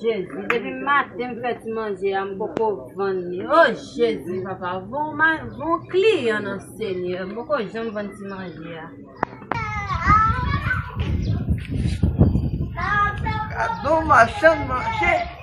Jezi depi maten m fè ti manje a m poko vann li o jezi papa von kliyan nan senyè m poko janm vann ti manje a gadon machann manje.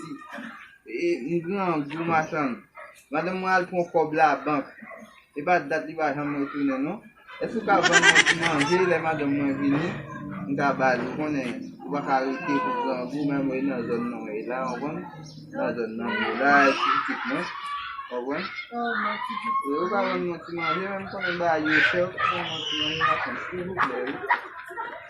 Mèsi. E m grangou machann. Madanm mwen al pran kòb labank. E pa dat li pa janm retounen non. Èske ou ka vann mwen ti manje lè madanm mwen vini m ka ba li. Ou konnen ou pa ka rete pou grangou menm ou e nan zòn nan ou ye la ou konprann. Nan zòn nan m ye la e ti pitit mwen. Ou konprann. E ou ka vann mwen ti manje menm m konnen bagay yo chè. Ou ka vann mwen ti manje machann silvouplè wi.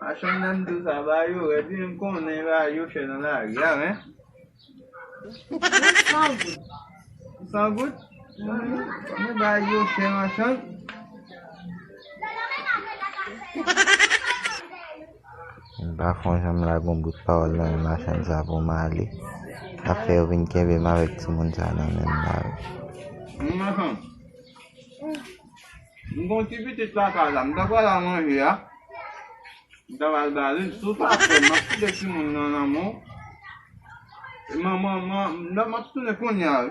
Machann nanm dou sa ba yo wè di m konnen ba yo chè nan lari a men. San goud. San goud? Mwen ba yo chè machann. M pa konn jan m lage yon bout pawòl nan men machann sa pou m ale. Sa fè yo vin kenbe m avèk timoun sa nan men m la wi. Humm machann, m gen yon ti pitit lakay la, m ta pral al manje a, m ta pral ba li l, si w pa pè m ap kite timoun nan nan men w, m ap tounen kounya wi.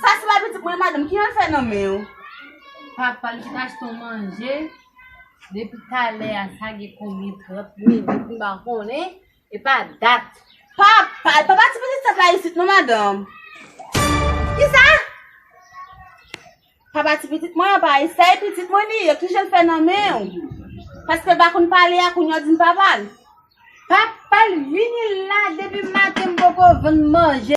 Sa se pa pitit mwen madame, ki al fè nan men yo? Papal ki t achte w manje depi talè a sa gen konbyen 30 minit m pa konnen epa dat. Papa, e pa pati pitit 7 la isit non madame. Kisa? Papa ti pitit mwen an pa eseye pitit mwen li yo ki jan fè nan men ou paske pa konn pale a kounye di papa l papa l vini la depi maten m poko vann manje